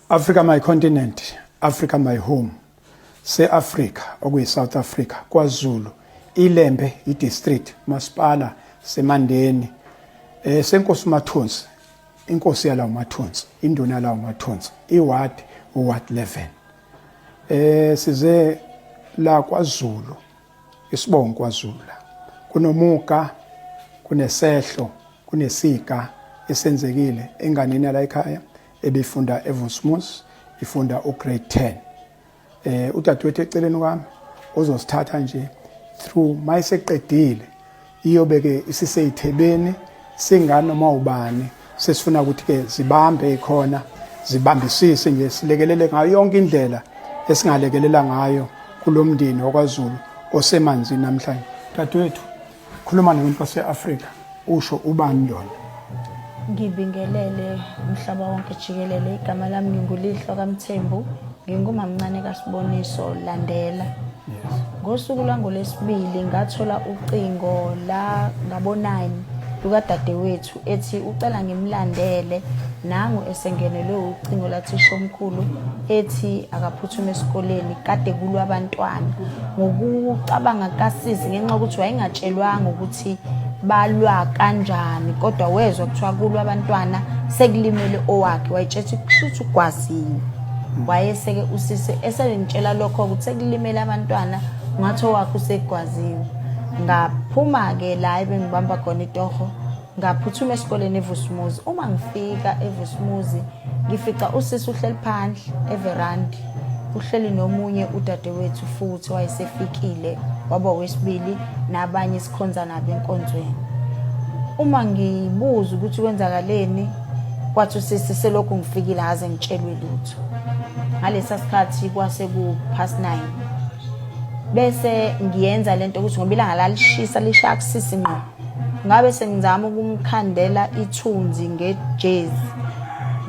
Africa my continent, Africa my home. Se-Africa okuyi-South Africa, KwaZulu, iLembe idistrict, masipala seMandeni, eh senkosi Mathunzi, inkosi yalawo Mathunzi, induna yalawo Mathunzi, iward uward 11. Eh size la KwaZulu Isibongo kwaZulu kunomuga kunesehlo kunesiga esenzekile enganeni yala ekhaya ebifunda eVosmus ifunda ugrade 10 eh udadewethu eceleni kwami uzosithatha nje through mayiseqedile iyobe-ke isiseyithebeni singanoma ubani sesifuna ukuthi-ke zibambe ikhona zibambisise nje silekelele ngayo yonke indlela esingalekelela ngayo kulo mndeni wakwazulu osemanzini namhlanje dadewethu khuluma nomuntu wase-afrika usho ubani lona Ngibingelele umhlaba wonke jikelele. Igama lami nginguLihlo kaMthembu, ngingumamncane kaSiboniso Landela. Ngosuku lwangoLwesibili ngathola ucingo la ngabonani lukadadewethu ethi ucela ngimlandele nangu esengenelwe ucingo lathishomkhulu ethi akaphuthume esikoleni kade kulwa abantwana ngokucabanga kasisi ngenxa yokuthi wayengatshelwanga ukuthi balwa kanjani kodwa wezwa kuthiwa kulwa abantwana sekulimele owakhe wayetshetha ukuthi ugwazile wayeseke usisi eselintshela lokho ukuthi sekulimele abantwana ngathi owakhe usegwaziwe ngaphuma-ke la ebengibamba khona itoho Ngaphuthuma esikoleni eVusumuzi. Uma ngifika eVusumuzi, ngifica usisi uhleli phandle everandi. Uhleli nomunye udadewethu futhi wayesefikile waba wesibili nabanye esikhonza nabo enkonzweni. Uma ngibuza ukuthi kwenzakaleni, kwathi usisi selokhu ngifikile haze ngitshelwe lutho. Ngalesa sikhathi kwase ku past 9. Bese ngiyenza lento ukuthi ngoba ilanga lalishisa lishaya kusisi ngqo. ngabe sengizama ukumkhandela ithunzi ngejezi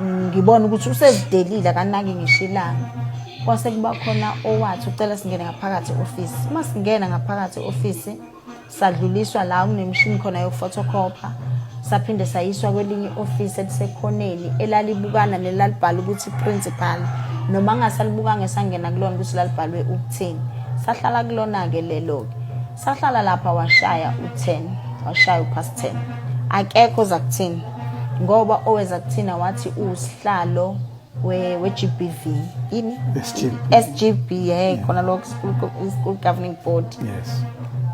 ngibona ukuthi usezidelile akanaki ngisho ilanga kwase kuba khona owathi ucela singene ngaphakathi e-ofisi uma singena ngaphakathi e-ofisi sadluliswa la kunemishini khona yokufotokhopha saphinde sayiswa kwelinye i-ofisi elisekhoneni elalibukana nelalibhala ukuthi principal noma ngasalibukanga esangena kulona ukuthi lalibhalwe ukuthini sahlala kulona-ke lelo-ke sahlala lapha washaya u-10 washaya upast 10 akekho oza kuthina ngoba oweza kuthina wathi usihlalo we-gbv yini sgb ye khona lokho school governing board yes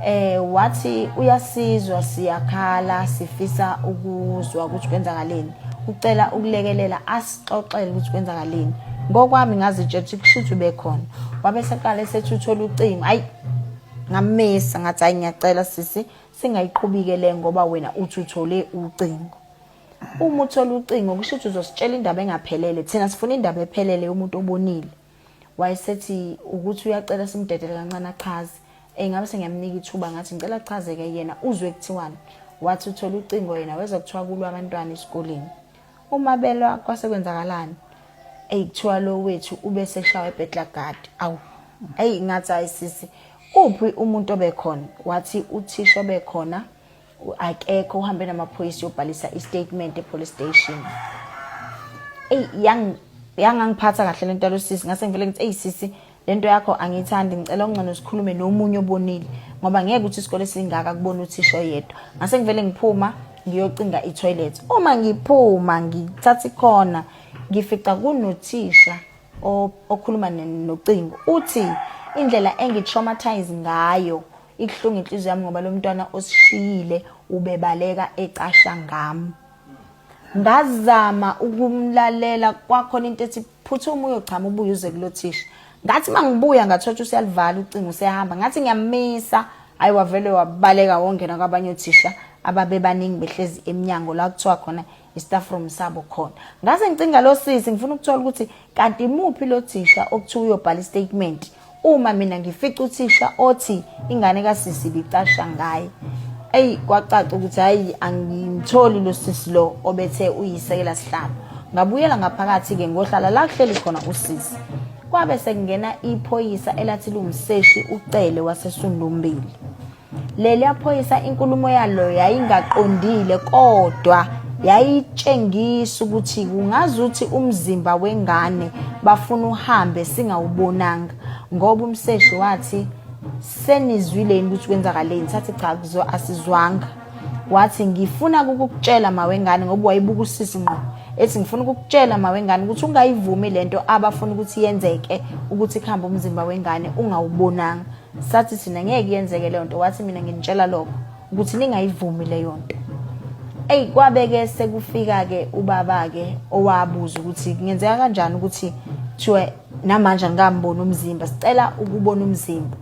eh wathi uyasizwa siyakhala sifisa ukuzwa ukuthi kwenzakaleni ucela ukulekelela asixoxele ukuthi kwenzakaleni ngokwami ngazitshetha ukuthi kushuthi ubekhona wabe seqale sethi uthola ucingo ayi ngamisa ngathi hayi ngiyacela sisi singayiqhubike le ngoba wena uthi uthole ucingo uma uthola ucingo kusho ukuthi uzositshela indaba engaphelele thina sifuna indaba ephelele yomuntu obonile wayesethi ukuthi uyacela simdedele kancane achaze engabe sengiyamnika ithuba ngathi ngicela achazeke yena uzwe kuthiwani wathi uthola ucingo yena weza kuthiwa kulwa abantwana esikoleni Uma belwa kwase kwenzakalani? Eyi kuthiwa lo wethu ube seshawa ebhetlagadi. Awu, eyi ngathi hayi sisi, uphi umuntu obekhona? Wathi uthisha obekhona akekho uhambe namaphoyisa yobhalisa istatement epolice station. Eyi yang yangangiphatha kahle lento yalosisi ngase ngivele ngithi eyi sisi lento yakho angiyithandi ngicela ungcono sikhulume nomunye obonile ngoba ngeke ukuthi isikole singaka kubona uthisha oyedwa ngase ngivele ngiphuma ngiyocinga itoilet uma ngiphuma ngithatha ikhona ngifica kunothisha okhuluma nocingo uthi indlela engi-traumatize ngayo ikuhlunga inhliziyo yami ngoba lo mntwana osishiyile ubebaleka ecasha ngami ngazama ukumlalela kwakhona into ethi phuthuma uyochama ubuye uze kulothisha ngathi mangibuya ngathotsha usiyalivala ucingo usehamba ngathi ngiyamisa hayi wavele wabaleka wongena kwabanye othisha ababebaningi behlezi emnyango la kuthiwa khona istaff room sabo khona ngase ngicinga lo sisi ngifuna ukuthola ukuthi kanti imuphi lo thisha okuthiwa uyobhala istatement Uma mina ngifica uthisha othi ingane kasisi ibicasha ngaye. Eyi kwacaca ukuthi hayi angimtholi lo sisi lo obethe uyisekela sihlalo. Ngabuyela ngaphakathi ke ngohlala la kuhleli khona usisi. Kwabe sekungena iphoyisa elathi lungseshi uCele waseSundumbili. Leliya phoyisa inkulumo yalo yayingaqondile kodwa yayitshengisa ukuthi kungazuthi umzimba wengane bafuna uhambe singawubonanga ngoba umseshi wathi senizwile yini ukuthi kwenzakaleni sathi cha kuzo asizwanga wathi ngifuna ukukutshela mawengane ngoba wayebuka usisi ngqo ethi ngifuna ukukutshela mawengane ukuthi ungayivumi lento abafuna ukuthi yenzeke ukuthi kuhambe umzimba wengane ungawubonanga sathi thina ngeke yenzeke leyo nto wathi mina nginitshela lokho ukuthi ningayivumi leyo nto eyi kwabeke sekufika-ke ubaba-ke owabuza ukuthi kungenzeka kanjani ukuthi kuthiwe namanje angikamboni umzimba sicela ukubona umzimba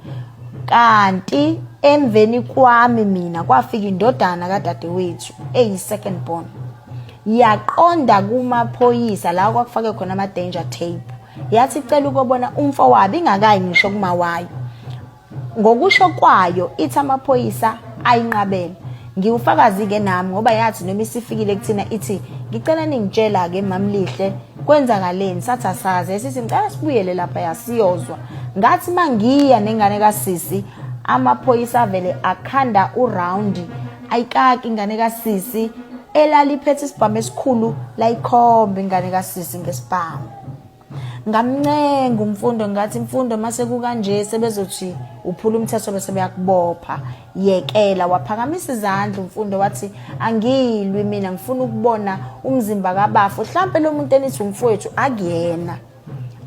kanti emveni kwami mina kwafika indodana kadadewethu eyi-second born yaqonda kumaphoyisa la kwakufake khona ama-danger tape yathi icela ukobona umfowabo ingakayi ngisho kuma wayo ngokusho kwayo ithi amaphoyisa ayinqabele ngiwufakazi ke nami ngoba yathi noma isifikile kuthina ithi ngicela ningitshela ke mamlihle kwenzakaleni sathi asazi esithi ngicela sibuyele lapha yasiyozwa ngathi mangiya nengane kasisi amaphoyisa avele akhanda uround ayikaki ingane kasisi elaliphethe isibhamu esikhulu layikhomba ingane kasisi ngesibhamu ngamncenga umfundo ngathi imfundo mase kukanje sebezothi uphula umthetho bese beyakubopha yekela waphakamisa izandla umfundo wathi angilwi mina ngifuna ukubona umzimba kabafo mhlampe lo muntu enithi umfowethu akuyena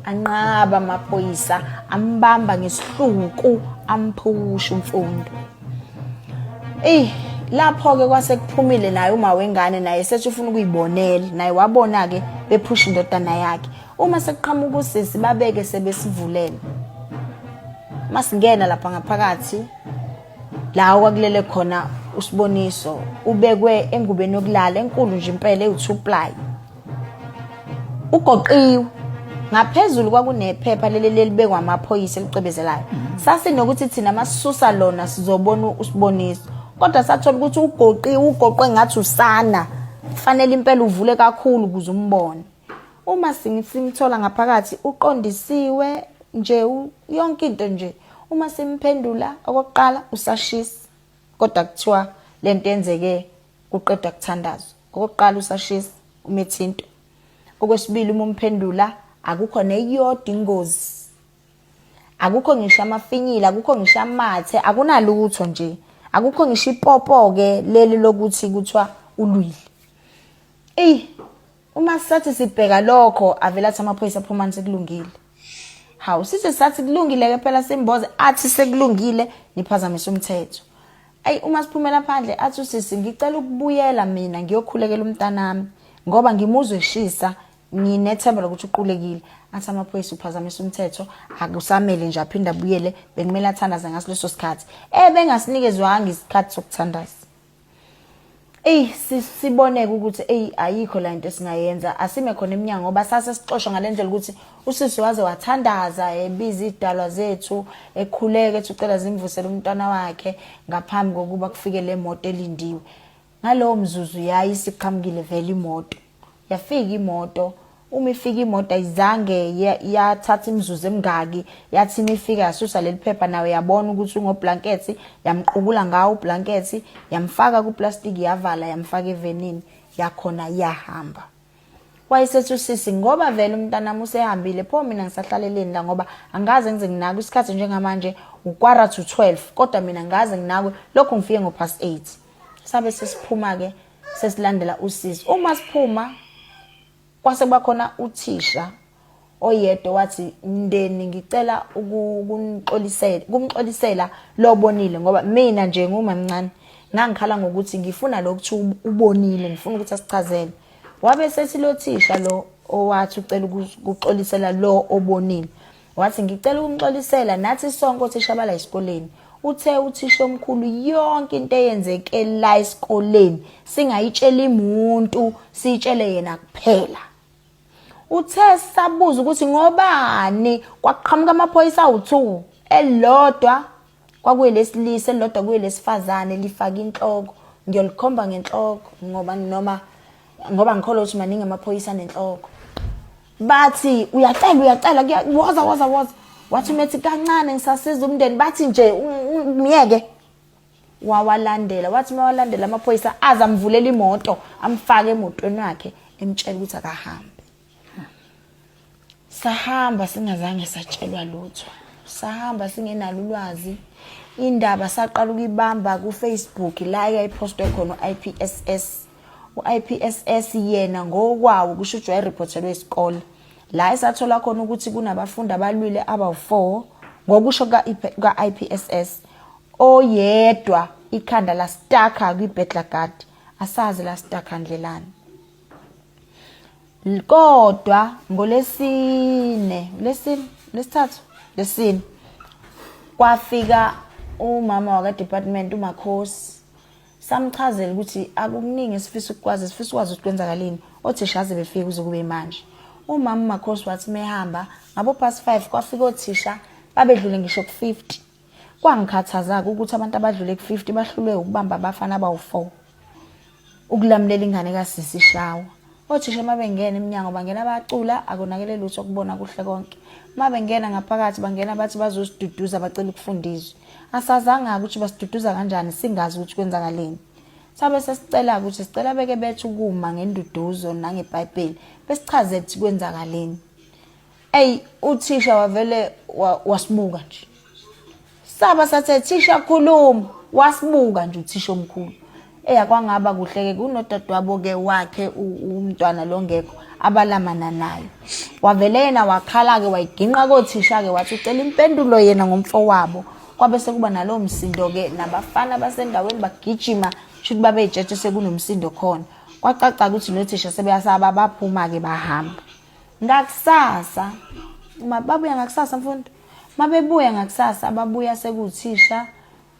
anqaba amaphoyisa ambamba ngesihluku amphusha umfundo Ey lapho ke kwase kuphumile naye uma wengane naye sethi ufuna ukuyibonela naye wabona ke bephusha indodana yakhe uma sekuqhamuka usisi babeke sebesivulele masingena lapha ngaphakathi la kwakulele khona usiboniso ubekwe engubeni yokulala enkulu nje impela ewu2 ply ugoqiwe ngaphezulu kwakunephepha leli lelibekwa amaphoyisa elicwebezelayo mm. sasinokuthi thina masisusa lona sizobona usiboniso kodwa sathola ukuthi ugoqiwe ugoqwe ngathi usana kufanele impela uvule kakhulu ukuze umbone uma simthola ngaphakathi uqondisiwe nje yonke into nje uma simphendula okokuqala usashisa kodwa kuthiwa lento yenzeke kuqedwa kuthandazwa Okokuqala usashisa umethinto. Okwesibili uma umphendula akukho neyodwa ingozi. Akukho ngisho amafinyila, akukho ngisho amathe, akunalutho nje. Akukho ngisho ipopo ke leli lokuthi kuthiwa ulwile. Ey uma sathi sibheka lokho avela athi amaphoyisa phumani sekulungile. Hawu sithi sathi kulungile ke phela simboze athi sekulungile niphazamisa umthetho. ayi uma siphumela phandle athi usisi ngicela ukubuyela mina ngiyokhulekela umntanami ngoba ngimuzwe eshisa nginethemba lokuthi uqulekile athi amaphoyisa uphazamisa umthetho akusamele nje aphinde abuyele bekumele athandaze ngaso leso sikhathi eh bengasinikezwanga isikhathi sokuthandaza Ey siboneke ukuthi ey ayikho la into esingayenza asime khona eminyango ngoba sase sixoshwa ngalendlela ukuthi usisi waze wathandaza ebiza idalwa zethu ekhuleke ethi ucela zimvusele umntwana wakhe ngaphambi kokuba kufike le moto elindiwe ngalowo mzuzu yayi siqhamukile vele imoto yafika imoto uma ifika imoto ayizange yathatha imizuzu emingaki yathi uma ifika yasusa leli phepha nawe yabona ukuthi ungoblankethi yamqukula ngawo ublankethi yamfaka kuplastiki yavala yamfaka evenini yakhona yahamba wayesethi usisi ngoba vele umntanami usehambile pho mina ngisahlaleleni la ngoba angaze ngize nginakwe isikhathi njengamanje ukwara to 12 kodwa mina ngaze nginakwe lokho ngifike ngo past 8 sabe sesiphuma ke sesilandela usizo uma siphuma kwase kwakhona uthisha oyedwa wathi mndeni ngicela ukunixolisela kumxolisela lobonile ngoba mina nje ngumamncane ngangikhala ngokuthi ngifuna lokuthu ubonile ngifuna ukuthi asichazele wabe sethi lothisha lo owathi ucela ukuxolisela lo obonile Wathi ngicela ukumxolisela nathi sonke othisha bala esikoleni. Uthe uthisha omkhulu yonke into eyenzeke la esikoleni singayitshela imuntu sitshele yena kuphela. Uthe sabuza ukuthi ngobani kwaqhamuka amaphoyisa awu2 elodwa kwakuye lesilisa elodwa kuye lesifazane lifaka inhloko ngiyolikhomba ngenhloko ngoba noma ngoba ngikholwa ukuthi maningi amaphoyisa nenhloko bathi uyacela uyacela woza woza woza wathi umethi kancane ngisasiza umndeni bathi nje myeke wawalandela wathi mawalandela amaphoyisa aze amvulela imoto amfake emotweni wakhe emtshela ukuthi akahambe sahamba singazange satshelwa lutho sahamba singenalo ulwazi indaba saqala ukuyibamba kufacebook la yayipostwe khona u-ipss U-IPSS yena ngokwawo kusho ukuthi wayeriphothelwe isikole la esathola khona ukuthi kunabafundi abalwile abawu-4 ngokusho kuka-IPSS oyedwa ikhanda lastaka kwi-Bedlagard asazi lastaka ndlelani kodwa ngolesine lesine lesithathu lesine kwafika umama wakadepartment umakhosi samchazela ukuthi akukuningi esifisa ukukwazi sifisa ukwazi ukuthi kwenzakaleni othisha aze befike kuze kube manje umama umakhosi wathi mehamba ngabo past 5 kwafika othisha babedlule ngisho ku-50 kwangikhathaza-ke ukuthi abantu abadlule ku-50 bahlulwe ukubamba abafana abawu-4 ukulamulela ingane kasisi shawa Othisha uma bengena emnyango bangena bacula akonakele lutho kubona kuhle konke. Uma bengena ngaphakathi bangena bathi bazosiduduza bacela ukufundiswa. Asazanga ukuthi basiduduza kanjani singazi ukuthi kwenzakaleni. Sabe sesicela ukuthi sicela beke bethu kuma ngenduduzo nangeBhayibheli besichaze ukuthi kwenzakaleni. Ey uthisha wavele wa- wasibuka nje. Saba sathe thisha khuluma wasibuka nje uthisha omkhulu. Eya kwangaba kuhleke kunodadewabo ke wakhe u- umntwana longekho abalamana nayo. Wavele yena wakhala ke wayiginqa kothisha ke wathi ucela impendulo yena ngomfowabo. Kwabe sekuba nalowo msindo ke nabafana basendaweni bagijima shuthi babeyitshethe sekunomsindo khona. Kwacaca ukuthi nothisha sebeyasaba baphuma ke bahamba. ngakusasa uma babuya ngakusasa mfundo mabebuya ngakusasa ababuya sekuthisha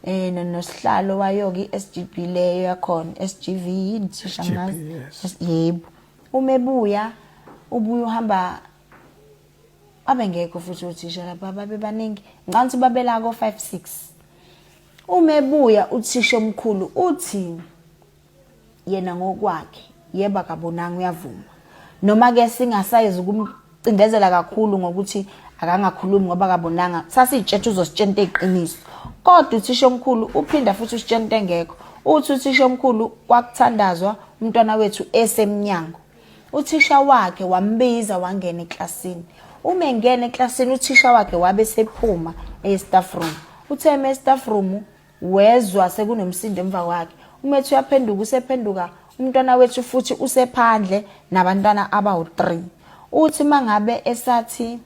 eh nosihlalo wayoke iSGB leyo yakhona SGV yini thisha ngazi yebo uma ebuya ubuye uhamba abengekho futhi uthisha lapha babebaningi ngicabanga ukuthi babela ko 5 6 uma ebuya uthisha omkhulu uthi yena ngokwakhe yebo akabonanga uyavuma noma ke singasayizi ukumcindezela kakhulu ngokuthi akangakhulumi ngoba akabonanga sasiyitshetsha uzositshela into eyiqiniso kodwa uthisha omkhulu uphinda futhi usitshela into engekho uthi uthisha omkhulu kwakuthandazwa umntwana wethu esemnyango uthisha wakhe wambiza wangena eklasini uma engena eklasini uthisha wakhe wabe sephuma e-staff room uthe eme e-staff room Wezwa sekunomsindo emva kwakhe. Umethi uyaphenduka usephenduka umntwana wethu futhi usephandle nabantwana abawu-3. Uthi mangabe esathi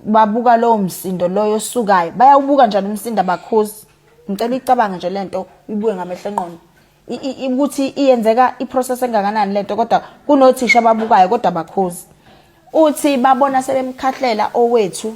babuka lowo msindo loyo osukayo bayawubuka njani umsindo abakhozi ngicela icabange nje lento ibuye ngamehlo enqondo ukuthi iyenzeka iprocess engakanani lento kodwa kunothisha ababukayo kodwa bakhozi uthi babona sebemkhahlela owethu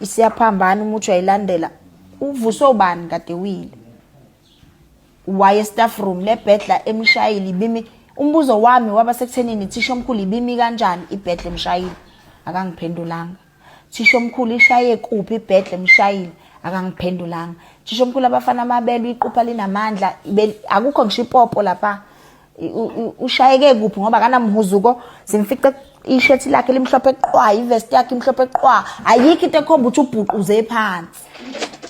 isiyaphambana uma uthi uyayilandela uvuswe ubani kade wile waye staff room le bhedla emshayile ibimi umbuzo wami waba sekuthenini thisha omkhulu ibimi kanjani ibhedla emshayile akangiphendulanga thisha omkhulu ishaye kuphi ibhedla emshayile akangiphendulanga thisha omkhulu abafana amabelo iqupha linamandla akukho ngisho ipopo lapha ushayeke kuphi ngoba kanamhuzuko simfice ishethi lakhe limhlophe qwa ivest yakhe imhlophe qwa ayikho into ekhomba ukuthi ubhuquze phansi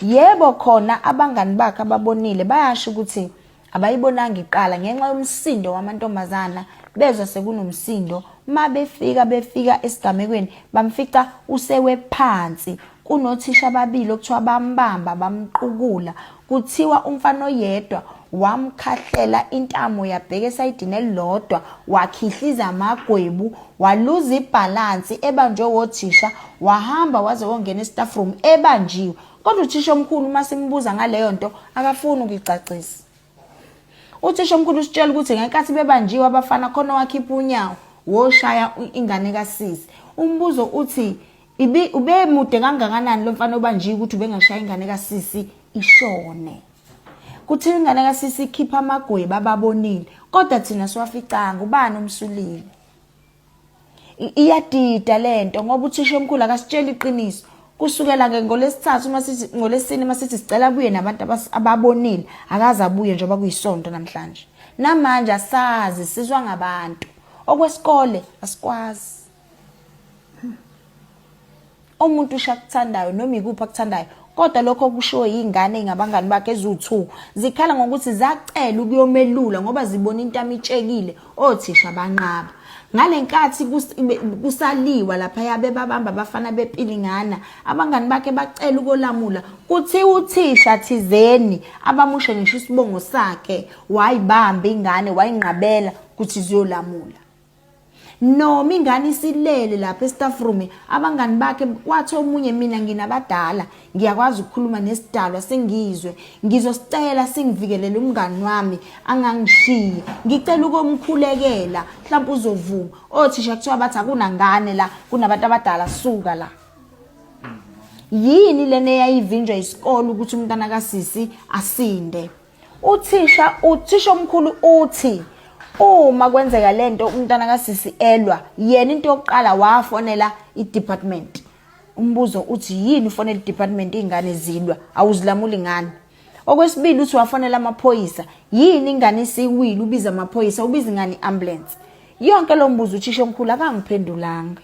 yebo khona abangani bakhe ababonile bayasho ukuthi abayibonanga iqala ngenxa yomsindo wamantombazana bezwa sekunomsindo uma befika befika esigamekweni bamfica usewe phansi Kunothisha ababili okuthiwa bambamba bamqukula kuthiwa umfana oyedwa wamkhahlela intamo yabheka esayidini elilodwa wakhihliza amagwebu waluza ibhalansi ebanjwe wothisha wahamba waze wongena estaff room ebanjiwe kodwa uthisha omkhulu uma simbuza ngaleyo nto akafuni ukuyicacisa uthisha omkhulu usitshela ukuthi ngenkathi bebanjiwe abafana khona wakhipha unyawo woshaya ingane kasisi umbuzo uthi ubemude kangakanani lo mfana obanjiwe ukuthi ubengashaya ingane kasisi ishone kuthiwa ingane kasisi ikhipha amagweba ababonile kodwa thina siwaficanga ubani umsulile iyadida lento ngoba uthisha omkhulu akasitshela iqiniso kusukela ke ngolesithathu uma sithi ngolesine uma sithi sicela abuye nabantu ababonile akaze abuye njengoba kuyisonto namhlanje namanje asazi sizwa ngabantu okwesikole asikwazi umuntu usho akuthandayo noma ikuphi akuthandayo kodwa lokho okushiwo yingane ingabangani bakhe eziwu-2 zikhala ngokuthi zacela ukuyomelula ngoba zibona into amitshekile othisha banqaba ngale nkathi kusaliwa lapha yabe babamba abafana bepilingana abangani bakhe bacela ukolamula kuthiwa uthisha thizeni abamushe ngisho isibongo sakhe wayibamba ingane wayinqabela ukuthi ziyolamula noma ingane isilele lapha estaff room abangani bakhe kwathi omunye mina nginabadala ngiyakwazi ukukhuluma nesidalwa sengizwe ngizosicela singivikelele umngani wami angangishiyi ngicela ukomkhulekela mhlawumbe uzovuma othisha kuthiwa bathi akunangane la kunabantu abadala suka la yini lena eyayivinjwa isikole ukuthi umntana kasisi asinde Uthisha uthisha omkhulu uthi uma kwenzeka lento umntana kasisi elwa yena into yokuqala wafonela i-department umbuzo uthi yini ufonela i-department iy'ngane zilwa awuzilamuli ngani okwesibili uthi wafonela amaphoyisa yini ingane isiwile ubiza amaphoyisa ubiza ingane i-ambulance yonke lo mbuzo uthisha omkhulu akangiphendulanga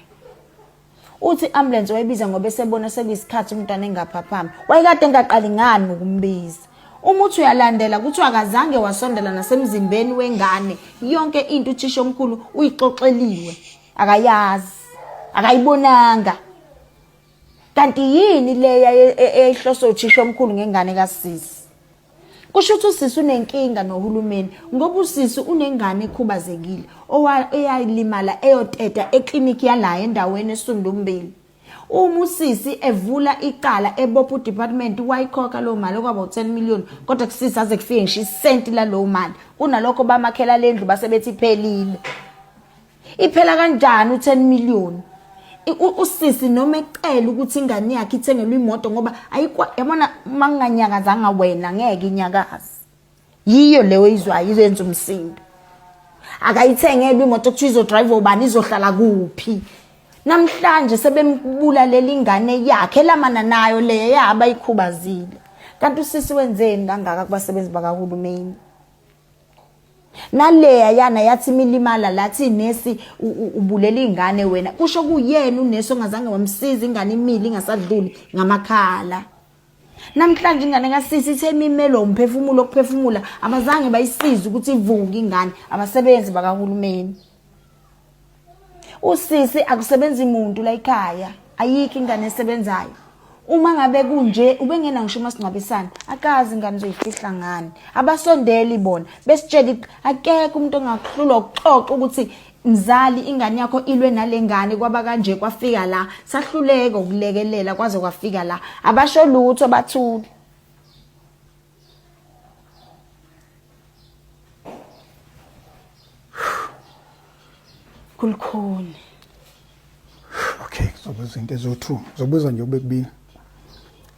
uthi i-ambulensi wayibiza ngoba esebona sekuyisikhathi umntwana engaphaphami wayekade engaqali ngani ukumbiza uma uthi uyalandela kuthiwa akazange wasondela nasemzimbeni wengane yonke into uthisha omkhulu uyixoxeliwe akayazi akayibonanga kanti yini leya eyayihloswe uthisha omkhulu ngengane kasisi kusho ukuthi usisi unenkinga nohulumeni ngoba usisi unengane ekhubazekile eyalimala eyoteta ekliniki yalayo endaweni esundumbili uma usisi evula icala ebopha udepartment wayikhokha leyo mali okwaba u-10 million kodwa kusisi aze kufike ngisho isenti laleyo mali kunalokho bamakhelala endlu base bethi iphelile Iphela kanjani u10 million? Usisi noma ecela ukuthi ingane yakhe ithengelwe imoto ngoba ayikwa yabona manganyakazanga wena ngeke inyakazi. Yiyo leyo izwayo izenza umsindo. Akayithengelwe imoto kuthiwa izodrive ubani izohlala kuphi? Namhlanje sebembulalela ingane yakhe lamana nayo leyo yaba ikhubazile. Kanti usisi wenzeni kangaka kubasebenzi bakahulumeni? naleya yana yathi imilimala lathi nesi ubulela ingane wena kusho kuyena unesi ongazange wamsiza ingane imili ingasadluli ngamakhala namhlanje ingane kasisi ithe imimelo umphefumulo okuphefumula abazange bayisize ukuthi ivuke ingane abasebenzi bakahulumeni usisi akusebenzi muntu la ekhaya ayikho ingane esebenzayo uma ngabe kunje ubengena ngisho umasingcwabisane akazi ingane uzoyifihla ngani abasondeli bona besitshela akekho umuntu ongakuhlulwa ukuxoxa ukuthi mzali ingane yakho ilwe nalengane kwaba kanje kwafika la sahluleka ukulekelela kwaze kwafika la abasho lutho bathule kulikhuni okay kuzobuza into ezo-two kuzobuza nje kube kubili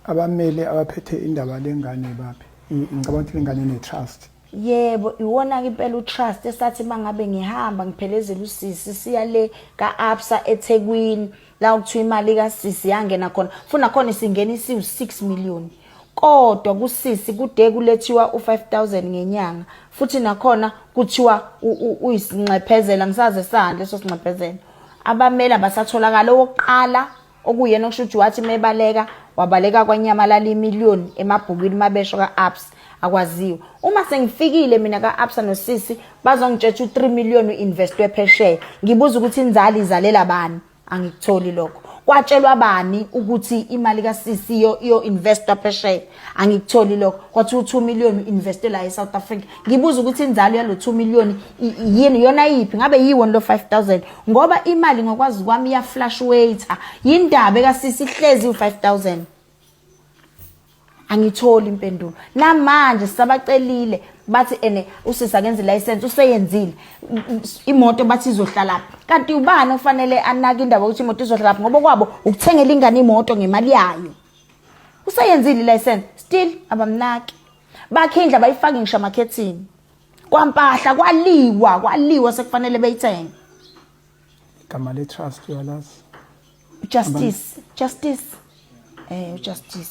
abamele abaphethe indaba lengane baphi ngicabanga ukuthi lengane ne-trust yebo iwona-ke impela utrust esathi uma ngabe ngihamba ngiphelezela usisi siya le ka-absa ethekwini la ukuthiwa imali kasisi yangena khona funa khona isingena isiwu-6 million kodwa kusisi kude kulethiwa u5000 ngenyanga futhi nakhona kuthiwa uyisinxephezela ngisaze sani leso sinxephezela abameli abasatholakala owokuqala okuyena okusho ukuthi wathi mebaleka wabaleka kwanyamalala imillion emabhukwini mabesho ka-ups akwaziwe uma sengifikile mina ka-absa nosisi bazongitshetsha u-3 million u-investwe phesheya ngibuza ukuthi inzali izalela bani angikutholi lokho kwatshelwa bani ukuthi imali ka-cc yo-investwa phesheya angikutholi lokho kwathiwa u-two million u-investwe la e-south africa ngibuza ukuthi inzalo yalo two million yini yona yiphi ngabe yiwoni lo five thousand ngoba imali ngokwazi kwami iyaflash waiter yindaba eka-cc ihlezi u-five thousand angitholi impendulo namanje sisabacelile bathi ene usisi akenze license useyenzile imoto bathi izohlala kanti ubani ofanele anake indaba ukuthi imoto izohlala ngoba kwabo ukuthengela ingane imoto ngemali yayo useyenzile license still abamnaki bakhindla bayifake ngisho amakhethini kwampahla kwaliwa kwaliwa sekufanele beyithenge igama le trust uyalazi justice justice eh justice